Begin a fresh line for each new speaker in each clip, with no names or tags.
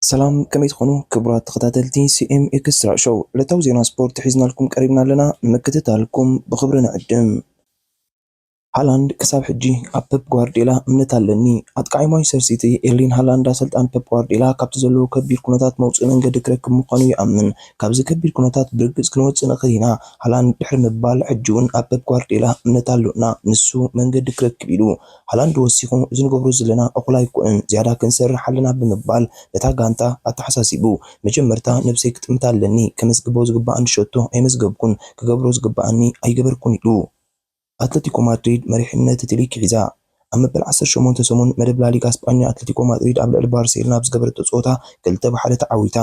ሰላም ከመይ
ትኾኑ ክቡራት ተኸታተልቲ ሲኤም ኤክስትራ ሾው ዕለታዊ ዜና ስፖርት ሒዝናልኩም ቀሪብና ኣለና ንምክትታልኩም ብኽብሪ ንዕድም ሃላንድ ክሳብ ሕጂ ኣብ ፐፕ ጓርድዮላ እምነት ኣለኒ። ኣጥቃዓይ ማንቸስተር ሲቲ ኤርሊን ሃላንድ ኣሰልጣኒ ፐፕ ጓርድዮላ ካብቲ ዘለዎ ከቢድ ኩነታት መውጽኢ መንገዲ ክረክብ ምዃኑ ይኣምን። ካብዚ ከቢድ ኩነታት ብርግጽ ክንወጽእ ንኽእል ኢና ሃላንድ ድሕሪ ምባል ሕጂ'ውን ኣብ ፐፕ ጓርድዮላ እምነት ኣሎና ንሱ መንገዲ ክረክብ ኢሉ። ሃላንድ ወሲኹ እዚ ንገብሮ ዘለና እኹል ኣይኮነን ዝያዳ ክንሰርሕ ኣለና ብምባል ነታ ጋንታ ኣተሓሳሲቡ መጀመርታ ነብሰይ ክጥምታ ኣለኒ ከመዝግቦ ዝግባኣኒ ሸቶ ኣይመዝገብኩን ክገብሮ ዝግባኣኒ ኣይገበርኩን ኢሉ። ኣትለቲኮ ማድሪድ መሪሕነት እቲ ሊግ ሒዛ። ኣብ መበል ዓሰርተ ሸሞንተ ሰሙን መደብ ላሊጋ ስጳኛ ኣትለቲኮ ማድሪድ ኣብ ልዕሊ ባርሴሎና ኣብ ዝገበረቶ ጸወታ ክልተ ብ ሓደ ተዓዊታ።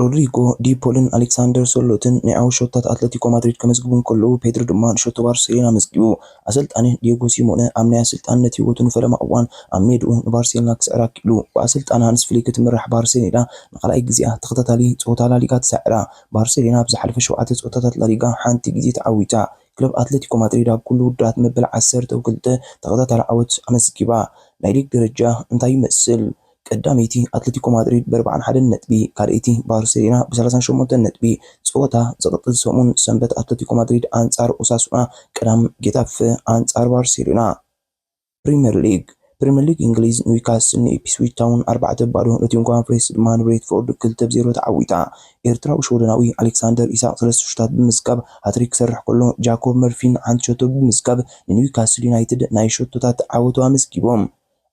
ሮድሪጎ ዲ ፖልን ኣሌክሳንደር ሶርሎትን ናይ ዓወት ሸቶታት ኣትለቲኮ ማድሪድ ከመዝግቡ እንከለዉ፣ ፔድሪ ድማ ንሸቶ ባርሴሎና ኣመዝጊቡ። ኣሰልጣኒ ዲየጎ ሲሞነ ኣብ ናይ ኣሰልጣንነት ህይወቱ ንፈለማ እዋን ኣብ ሜድኡ ንባርሴሎና ክስዕር ኣክኢሉ። ብኣሰልጣኒ ሃንስ ፍሊክ እትምራሕ ባርሴሎና ንኻልኣይ ግዜኣ ተኸታታሊ ጸወታ ላሊጋ ትሰዕራ። ባርሴሎና ኣብ ዝሓለፈ ሸውዓተ ጸወታታት ላሊጋ ሓንቲ ግዜ ተዓዊታ። ክለብ ኣትለቲኮ ማድሪድ ኣብ ኩሉ ውድድራት መበል ዓሰርተው ክልተ ተኸታታሊ ዓወት ኣመዝጊባ። ናይ ሊግ ደረጃ እንታይ ይመስል? ቀዳመይቲ ኣትለቲኮ ማድሪድ ብኣርብዓን ሓደን ነጥቢ፣ ካልኣይቲ ባርሴሎና ብሰላሳን ሸሞንተን ነጥቢ። ፀወታ ዝቕፅል ሰሙን ሰንበት ኣትለቲኮ ማድሪድ ኣንፃር ኦሳሱና፣ ቀዳም ጌታፈ ኣንፃር ባርሴሎና። ፕሪመር ሊግ ፕሪመር ሊግ እንግሊዝ ኒውካስል ንኢፕስዊች ታውን ኣርባዕተ ባዶ፣ ኖቲንግሃም ፎሬስት ድማ ንብሬንትፎርድ ክልተ ብ ዜሮ ተዓዊታ። ኤርትራዊ ሽወደናዊ ኣሌክሳንደር ኢሳቕ ሰለስተ ሹታት ብምዝጋብ ሃትሪክ ክሰርሕ ከሎ፣ ጃኮብ መርፊን ሓንቲ ሸቶ ብምዝጋብ ንኒውካስል ዩናይትድ ናይ ሸቶታት ዓወቱ ኣመዝጊቦም።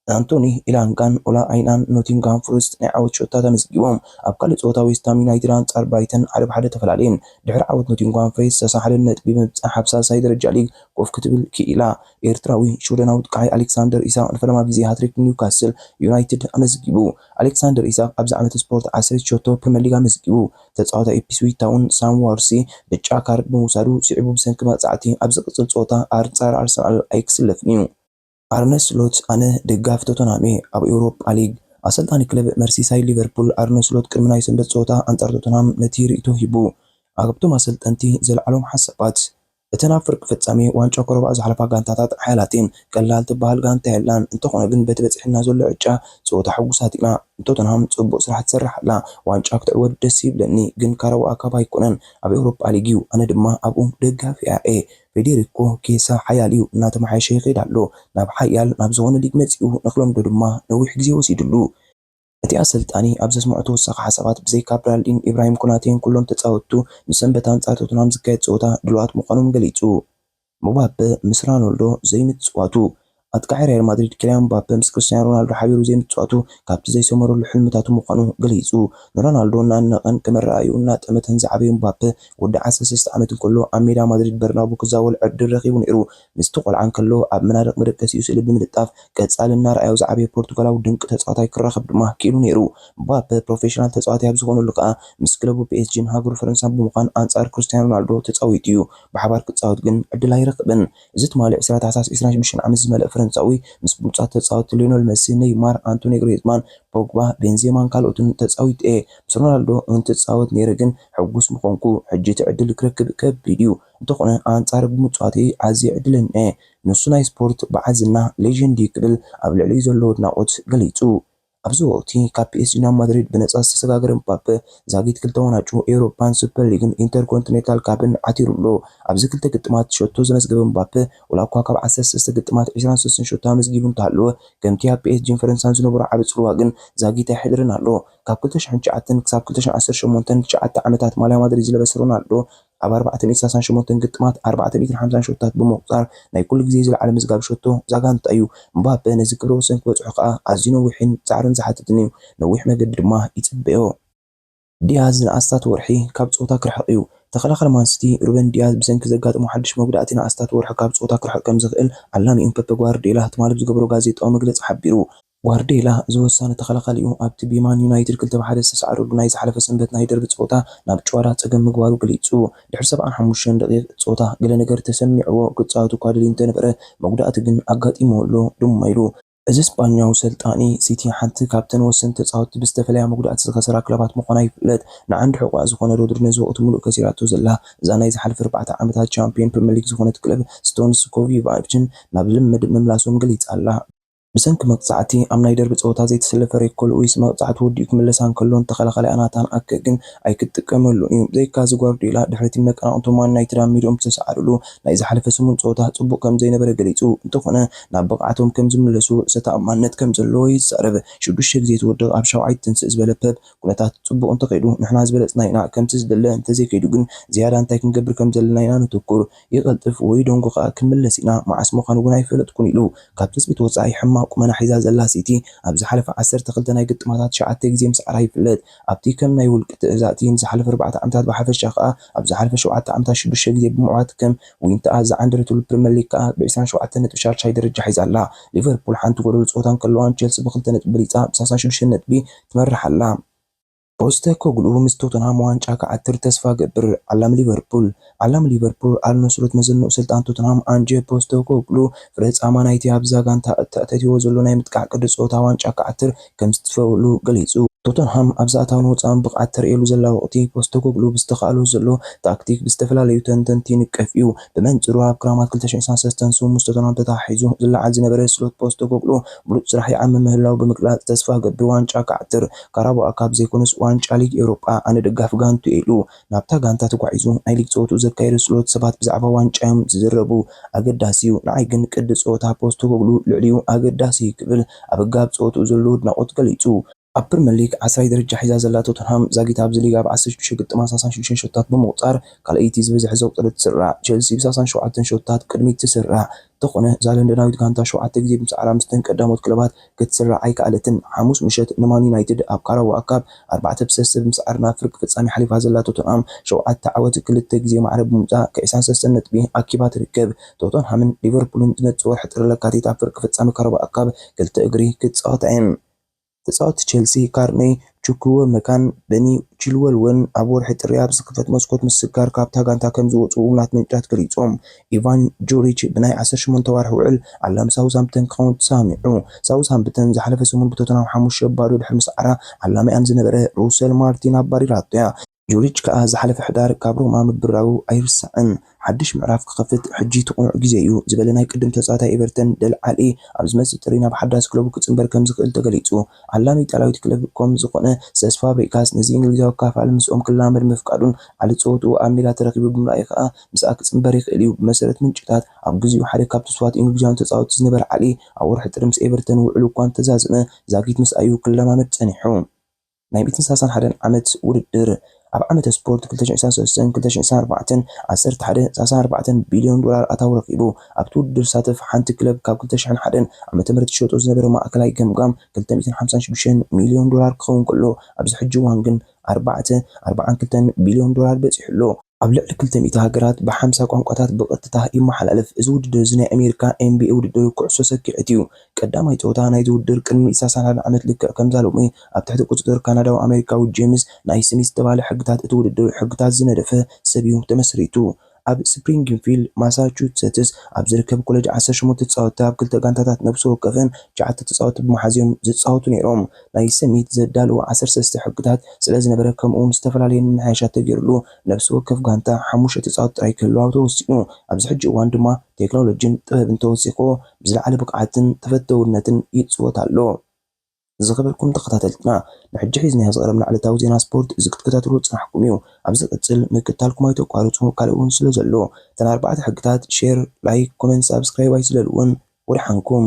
ኣንቶኒ ኢላንጋን ኦላ ኣይናን ንኖቲንግሃም ፎረስት ናይ ዓወት ሸቶታት ኣመዝጊቦም። ኣብ ካልእ ጸወታ ዌስትሃም ዩናይትድ ኣንጻር ብራይተን ሓደ ብ ሓደ ተፈላለየን። ድሕሪ ዓወት ኖቲንግሃም ፎሬስት ሰሳ ሓደ ነጥቢ ብምብጻሕ ኣብ ሳልሳይ ደረጃ ሊግ ኮፍ ክትብል ክኢላ። ኤርትራዊ ሽወደናዊ ጥቃዒ ኣሌክሳንደር ኢሳቕ ንፈለማ ግዜ ሃትሪክ ንኒውካስል ዩናይትድ ኣመዝጊቡ። ኣሌክሳንደር ኢሳቕ ኣብዚ ዓመተ ስፖርት ዓሰርተ ሸቶ ፕሪመር ሊግ ኣመዝጊቡ። ተጻዋታይ ኢፕስዊች ታውን ሳም ዋርሲ ብጫ ካርድ ብምውሳዱ ስዒቡ ብሰንኪ መቕጻዕቲ ኣብ ዝቕጽል ጸወታ ኣርንጻር ኣርሰናል ኣይክስለፍን'ዩ። ኣርነ ስሎት ኣነ ደጋፊ ቶተንሃም'የ። ኣብ ኤውሮጳ ሊግ፣ ኣሰልጣኒ ክለብ መርሲሳይድ ሊቨርፑል ኣርነ ስሎት ቅድሚ ናይ ሰንበት ጸወታ ኣንጻር ቶተንሃም ነቲ ርእይቶ ሂቡ። ኣብቶም ኣሰልጠንቲ ዘልዓሎም ሓሳባት፣ እተን ኣብ ፍርቂ ፍጻሜ ዋንጫ ኮረብኣ ዝሓለፋ ጋንታታት ሓያላት'የን። ቀላል ትበሃል ጋንታ የላን። እንተኾነ ግን በቲ በጺሕልና ዘሎ ዕጫ ጸወታ ሕጉሳት ኢና። ቶተንሃም ጽቡቕ ስራሕ ትሰርሕ ኣላ። ዋንጫ ክትዕወት ደስ ይብለኒ፣ ግን ካራውኣ ካባ ኣይኮነን። ኣብ ኤውሮጳ ሊግ'ዩ፣ ኣነ ድማ ኣብኡ ደጋፊኣ'የ። ፌዴሪኮ ኬሳ ሓያል እዩ፣ እናተመሓየሸ ይኸይድ ኣሎ፣ ናብ ሓያል ናብ ዝኾነ ሊግ መፂኡ፣ ንክለምዶ ድማ ነዊሕ ግዜ ወሲድሉ። እቲ ኣሰልጣኒ ኣብ ዘስመዖ ተወሳኺ ሓሳባት፣ ብዘይካ ብራልዲን፣ ኢብራሂም ኮናቴን ኩሎም ተፃወትቱ ንሰንበት ኣንፃር ቶተንሃም ዝካየድ ፀወታ ድሉዋት ምዃኖም ገሊፁ። ምባፐ ምስ ራኖልዶ ዘይምፅዋቱ፣ ኣጥቃዓይ ሪያል ማድሪድ ኪልያን ምባፐ ምስ ክርስትያኖ ሮናልዶ ሓቢሩ ዘይምጽዋቱ ካብቲ ዘይሰመረሉ ሕልምታቱ ምዃኑ ገሊጹ። ንሮናልዶ እናኣድነቐን ከም ኣረኣእያኡ እናጠመተን ዝዓበዩ ምባፐ፣ ወዲ ዓሰርተ ሰለስተ ዓመት እንከሎ ኣብ ሜዳ ማድሪድ በርናቡ ክዛወል ዕድል ረኺቡ ነይሩ። ምስቲ ቆልዓ እንከሎ ኣብ መናድቕ መደቀሲኡ ስእሊ ብምልጣፍ ቀጻሊ እናርኣዮ ዝዓበየ ፖርቱጋላዊ ድንቂ ተጻዋታይ ክራኸብ ድማ ክኢሉ ነይሩ። ምባፐ ፕሮፌሽናል ተጻዋታይ ኣብ ዝኾነሉ ከኣ ምስ ክለቡ ፒኤስጂን ሃገሩ ፈረንሳን ብምዃን ኣንጻር ክርስትያኖ ሮናልዶ ተጻዊቱ'ዩ። ብሓባር ክጻወት ግን ዕድል ኣይረኽብን። እዚ ትማሊ ዕስራ ታሕሳስ ዕስራን ሽዱሽተን ዓመት ዝመልእ ፈረንሳዊ፣ ምስ ብሉጻት ተጻወትቲ ሊዮነል መሲ፣ ነይማር፣ ኣንቶኒ ግሪዝማን፣ ፖግባ፣ ቤንዜማን ካልኦትን ተጻዊተ'የ። ምስ ሮናልዶ እውን ትጻወት ነይረ ግን ሕጉስ ምኾንኩ። ሕጂ እቲ ዕድል ክረክብ ከቢድ'ዩ። እንተኾነ ኣንጻሩ ብምጽዋተይ ኣዝየ ዕድለኛ'የ። ንሱ ናይ ስፖርት በዓል ዝና፣ Legend፣ እዩ ክብል ኣብ ልዕሊኡ ዘለዎ ኣድናቖት ገሊጹ። ኣብዚ ወቕቲ ካብ ፒኤስጂ ናብ ማድሪድ ብነጻ ዝተሰጋገረ ምባፐ፣ ዛጊት ክልተ ዋንጫ ኤውሮጳን ሱፐር ሊግን ኢንተርኮንቲኔንታል ካፕን ዓቲሩ ኣሎ። ኣብዚ ክልተ ግጥማት ሸቶ ዘመዝገበ ምባፐ፣ ዋላ'ኳ ካብ ዓሰርተ ሰለስተ ግጥማት ዕስራን ሰለስተን ሸቶ ኣመዝጊቡ እንተሃለወ፣ ከምቲ ኣብ ፒኤስጂን ፈረንሳን ዝነበሮ ዓቢ ጽልዋ ግን ዛጊት ኣይሕደርን ኣሎ። ካብ ክልተ ሽሕን ትሽዓተን ክሳብ ክልተ ሽሕን ዓሰርተ ሸሞንተን፣ ትሽዓተ ዓመታት ማልያ ማድሪድ ዝለበሰ ሮናልዶ፣ ኣብ ኣርባዕተ ሚእትን ሰላሳን ሸሞንተን ግጥማት ኣርባዕተ ሚእትን ሓምሳን ሸቶታት ብምቑጻር ናይ ኩሉ ግዜ ዝለዓለ ምዝጋብ ሸቶ ዛጋንታ እዩ። እምባፔ ነዚ ክብረ ወሰን ክበጽሖ ከኣ ኣዝዩ ነዊሕን ጻዕርን ዝሓትትን እዩ፣ ነዊሕ መገዲ ድማ ይጽበዮ። ዲያዝ ንኣስታት ወርሒ ካብ ጸወታ ክርሕቕ እዩ። ተኸላኻሊ ማን ሲቲ ሩበን ዲያዝ ብሰንኪ ዘጋጠሞ ሓድሽ መጉዳእቲ ንኣስታት ወርሒ ካብ ጸወታ ክርሕቕ ከምዝኽእል ዓላሚኡ ፐፐ ጓርድዮላ ትማሊ ብዝገበሮ ጋዜጣዊ መግለጺ ሓቢሩ። ጓርድዮላ እዚ ወሳኒ ተኸላኻሊኡ ኣብቲ ብማን ዩናይትድ ክልተ ብ ሓደ ዝተሰዓረሉ ናይ ዝሓለፈ ሰንበት ናይ ደርቢ ጸወታ ናብ ጭዋዳ ጸገም ምግባሩ ገሊጹ። ድሕሪ ሰብዓን ሓሙሽተን ደቒቕ ጸወታ ገለ ነገር ተሰሚዕዎ ክጻወት እኳ ደልዩ እንተነበረ መጉዳእቲ ግን ኣጋጢምዎ ኣሎ ድማ ኢሉ። እዚ ስጳኛዊ ሰልጣኒ፣ ሲቲ ሓንቲ ካብተን ወሰንቲ ተጻወትቲ ብዝተፈለያ መጉዳእቲ ዝኸሰራ ክለባት ምዃና ይፍለጥ። ንዓንዲ ሕቖኣ ዝኾነ ሮድሪ ነዚ ወቕቲ ምሉእ ከሲራቶ ዘላ እዛ ናይ ዝሓለፈ ኣርባዕተ ዓመታት ቻምፕዮን ፕሪመር ሊግ ዝኾነት ክለብ ስቶንስ ኮቭይቫችን ናብ ልምምድ ምምላሶም ገሊጻ ኣላ። ብሰንኪ መቕጻዕቲ ኣብ ናይ ደርቢ ጸወታ ዘይተሰለፈ ሬኮ ሉዊስ፣ መቕጻዕቲ ወዲኡ ክምለስ ኣንከሎን ተኸላኻላይ ኣናታን ኣከ ግን ኣይክትጥቀመሉን እዩ። ብዘይካዚ ጓርድዮላ ድሕሪቲ መቀናቕንቶም ማን ዩናይትድ ኣብ ሜድኦም ብዝተሰዓርሉ ናይ ዝሓለፈ ሰሙን ጸወታ ጽቡቕ ከምዘይነበረ ገሊጹ እንተኾነ ናብ ብቕዓቶም ከምዝምለሱ ርእሰ ተኣማንነት ከምዘለዎ ይዛረብ። ሽዱሽተ ግዜ ትወድቕ ኣብ ሻውዓይ ትትንስእ ዝበለ ፐፕ፣ ኩነታት ጽቡቕ እንተኸይዱ ንሕና ዝበለጽና ኢና፣ ከምቲ ዝድለ እንተዘይከይዱ ግን ዝያዳ እንታይ ክንገብር ከምዘለና ኢና ነተኩር። ይቐልጥፍ ወይ ደንጉ ከኣ ክንምለስ ኢና፣ መዓስ ምዃኑ እውን ኣይፈለጥኩን ኢሉ። ካብ ትጽቢት ወጻኢ ሕማቕ ቁመና ሒዛ ዘላ ሲቲ፣ ኣብ ዝሓለፈ ዓሰርተ ክልተ ናይ ግጥማታ ትሽዓተ ግዜ ምስዓራ ይፍለጥ። ኣብቲ ከም ናይ ውልቂ ትእዛእቲ ንዝሓለፈ ኣርባዕተ ዓመታት ብሓፈሻ ከኣ ኣብ ዝሓለፈ ሸውዓተ ዓመታት ሽዱሽተ ግዜ ብምዕዋት ከም ዊንታኣ ዝዓንደረትሉ ፕሪመር ሊግ ከኣ ብዕስራን ሸውዓተን ነጥቢ ሻድሻይ ደረጃ ሒዛ ኣላ። ሊቨርፑል ሓንቲ ጎደሎ ጸወታ እንከለዋ ንቸልሲ ብክልተ ነጥቢ በሊጻ ብሳሳን ሽዱሽተን ነጥቢ ትመርሕ ኣላ። ፖስተኮግሉ ምስ ቶተንሃም ዋንጫ ክዓትር ተስፋ እገብር ዓላም ሊቨርፑል ዓላም ሊቨርፑል ኣል ኑስረት መዘንኡ ኣሰልጣኒ ቶተንሃም ኣንጀ ፖስተኮግሉ ፍረ ጻማ ናይቲ ኣብዛ ጋንታ እተኣታትይዎ ዘሎ ናይ ምጥቃዕ ቅዲ ጸወታ ዋንጫ ክዓትር ከምዝተስፈወሉ ገሊጹ። ቶተንሃም ኣብዚ ኣታውን ወጻእን ብቕዓት ተርእየሉ ዘላ ወቕቲ ፖስተኮግሉ ብዝተኻእሎ ዘሎ ታክቲክ ብዝተፈላለዩ ተንተንቲ ይንቀፍ እዩ። ብመንጽሩ ኣብ ክራማት ክልተ ሽሕን ዓሰርተ ሰለስተን ስሙ ምስ ቶተንሃም ተተሓሒዙ ዝለዓል ዝነበረ ስሎት ፖስተኮግሉ ብሉጽ ስራሕ ይዓምም ምህላዉ ብምግላጽ ተስፋ እገብር ዋንጫ ክዓትር ካራባኦ ካፕ ዘይኮነስ ዋንጫ ሊግ ኤውሮጳ ኣነ ደጋፊ ጋንትኡ እየ ኢሉ። ናብታ ጋንታ ተጓዒዙ ናይ ሊግ ጸወትኡ ዘካየዶ ስሎት ሰባት ብዛዕባ ዋንጫ'ዮም ዝዝረቡ። ኣገዳሲ'ዩ። ንዓይ ግን ቅዲ ጸወታ ፖስተኮግሉ ልዕሊኡ ኣገዳሲ'ዩ ክብል ኣብ ህግሃብ ጸወትኡ ዘለዎ ኣድናቖት ገሊጹ። ኣብ ፕሪመር ሊግ ዓስራይ ደረጃ ሒዛ ዘላ ቶተንሃም ዛጊት ኣብዚ ሊግ ኣብ ዓሰርተ ሽዱሽተ ግጥማት ሳሳን ሽዱሽተን ሸቶታት ብምቑጻር ካልኣይቲ ዝበዝሐ ዘቑጸረት ትስራዕ። ቸልሲ ብሳሳን ሸውዓተን ሸቶታት ቅድሚት ትስራዕ። እንተኾነ እዛ ለንደናዊት ጋንታ ሸውዓተ ግዜ ብምስዓራ ምስተን ቀዳሞት ክለባት ክትስራዕ ኣይከኣለትን። ሓሙስ ምሸት ንማን ዩናይትድ ኣብ ካራባኦ ካፕ ኣርባዕተ ብ ሰለስተ ብምስዓር ናብ ፍርቂ ፍጻሜ ሓሊፋ ዘላ ቶተንሃም ሸውዓተ ዓወት ክልተ ግዜ ማዕረ ብምውጻእ ክዒሳን ሰለስተ ነጥቢ ኣኪባ ትርከብ። ቶተንሃምን ሊቨርፑልን ዝመጽእ ወርሒ ጥሪ ለካቲት ኣብ ፍርቂ ፍጻሜ ካራባኦ ካፕ ክልተ እግሪ ክጻወታ እየን። ተጻወትቲ ቸልሲ ካርነይ ቹኩወመካን በኒ ቺልወል'ውን ኣብ ወርሒ ጥሪ ኣብ ዝኽፈት መስኮት ምስግጋር ካብታ ጋንታ ከም ዝወጽኡ እሙናት ምንጭታት ገሊጾም። ኢቫን ጁሪች ብናይ ዓሰርተ ሸሞንተ ኣዋርሕ ውዕል ዓላም ሳውዝሃምፕተን ክኸውን ተሰማሚዑ። ሳውዝሃምፕተን ዝሓለፈ ሰሙን ብቶተንሃም ሓሙሽተ ባዶ ድሕሪ ምስዓራ ዓላሚኣን ዝነበረ ሩሰል ማርቲን ኣባሪራቶ'ያ። ጁሪች ከኣ ዝሓለፈ ሕዳር ካብ ሮማ ምብራሩ ኣይርሳዕን። ሓድሽ ምዕራፍ ክኸፍት ሕጂ'ቲ ቅኑዕ ግዜ'ዩ ዝበለ ናይ ቅድም ተጻዋታይ ኤቨርተን ደለ ዓሊ፣ ኣብ ዝመጽእ ጥሪ ናብ ሓዳስ ክለቡ ክጽንበር ከምዝኽእል ተገሊጹ። ኣላሚ ኢጣልያዊት ክለብ ኮም ዝኾነ ሰስ ፋብሪጋስ ነዚ እንግሊዛዊ ኣካፋሊ ምስኦም ክላመድ ምፍቃዱን ዓሊ ጸወትኡ ኣብ ሜዳ ተረኪቡ ብምርኣዩ ከኣ ምስኣ ክጽንበር ይኽእል'ዩ። ብመሰረት ምንጭታት፣ ኣብ ግዜኡ ሓደ ካብ ትስፉዋት እንግሊዛውያን ተጻወትቲ ዝነበረ ዓሊ፣ ኣብ ወርሒ ጥሪ ምስ ኤቨርተን ውዕሉ'ኳ እንተዛዘመ፣ ዛጊት ምስኣ'ዩ ክለማመድ ጸኒሑ። ናይ ሚእትን ሰላሳን ሓደን ዓመት ውድድር ኣብ ዓመተ ስፖርት ክልተ ሽሕን ዕስራን ሰለስተን ክልተ ሽሕን ዕስራን ኣርባዕተን ዓሰርተ ሓደ ነጥቢ ሳልሳን ኣርባዕተን ቢልዮን ዶላር ኣታዊ ረኺቡ። ኣብቲ ውድድር ዝሳተፍ ሓንቲ ክለብ ካብ ክልተ ሽሕን ሓደን ዓመተ ምህረት ትሸጦ ዝነበረ ማእከላይ ገምጋም ክልተ ሚእትን ሓምሳን ሽዱሽተን ሚልዮን ዶላር ክኸውን ከሎ ኣብዚ ሕጂ እዋን ግን ኣርባዕተ ኣርብዓን ክልተን ቢልዮን ዶላር በጺሑ ኣሎ። ኣብ ልዕሊ ክልተ ሚእቲ ሃገራት ብሓምሳ ቋንቋታት ብቐጥታ ይመሓላለፍ። እዚ ውድድር እዚ ናይ ኣሜሪካ ኤንቢኤ ውድድር ኩዕሶ ሰኪዔት እዩ። ቀዳማይ ጸወታ ናይዚ ውድድር ቅድሚ ኢሳሳን ሓደ ዓመት ልክዕ ከምዛ ሎሚ ኣብ ትሕቲ ቁጽጽር ካናዳዊ-ኣሜሪካዊ ጄምስ ናይስሚዝ ዝተባህለ ሕግታት እቲ ውድድር ሕግታት ዝነደፈ ሰብ እዩ ተመስሪቱ። ኣብ ስፕሪንግፊልድ ማሳቹሰትስ ኣብ ዝርከብ ኮለጅ ዓሰርተ ሸሞንተ ተጻወትቲ ኣብ ክልተ ጋንታታት ነብሲ ወከፈን ትሽዓተ ተጻወትቲ ብምሓዝ እዮም ዝጻወቱ ነይሮም። ናይ ሰሚት ዘዳልዎ ዓሰርተ ሰለስተ ሕግታት ስለዝነበረ ከምኡውን ዝተፈላለየ ምምሕያሻት ተገይሩሉ ነብሲ ወከፍ ጋንታ ሓሙሽተ ተጻወትቲ ጥራይ ክህልዋ ተወሲኑ። ኣብዚ ሕጂ እዋን ድማ ቴክኖሎጂን ጥበብን ተወሲኹ ብዝለዓለ ብቕዓትን ተፈተውነትን ይጽወት ኣሎ። ዝኸበርኩም ተኸታተልትና ንሕጂ ሒዝናዮ ዝቐረብና ዕለታዊ ዜና ስፖርት እዚ ክትከታተልዎ ዝጸናሕኩም እዩ። ኣብ ዝቕጽል ምክትታልኩም ኣይተቋርጹ ካልእ እውን ስለ ዘሎ። እተን ኣርባዕተ ሕግታት፣ ሼር፣ ላይክ፣ ኮመንት፣ ሳብስክራይብ ኣይትለልውን። ወደሓንኩም።